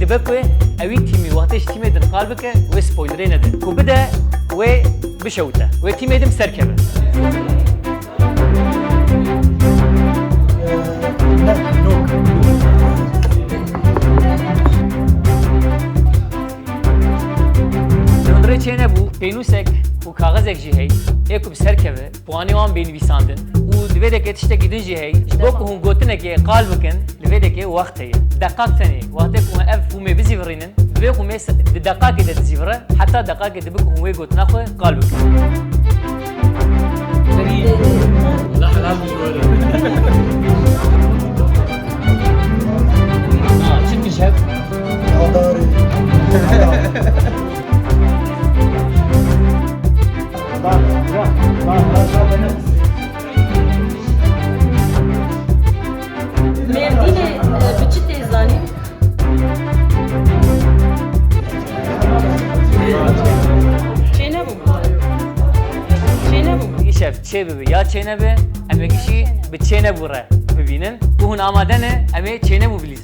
Dibe ku ewî tîmî wextê ji tîmê din qal bike wê spoylerê nede ku bide wê bişewite wê tîmê din bi ser keve. Li hundirê çênebû pênûsek û kaxizek jî hey ê ku bi ser keve. Bi anî wan bên nivîsandin û di vê de ke tiştekî din jî hey, ji bo ku hûn gotinekê qal bikin, li vê de ke wext heye. Deqaq tenê. Wextê ku hûn ev fûmê bizîvirînin, divê ku mês di deqaqê de dizîvire, heta deqaqê dibe ku hûn wê gotina xwe qal bikin. çê bibi ya çêne bi em ê kişî bi çêne bû re bibînin bû hûn amade ne em ê çêne bû bilîzin.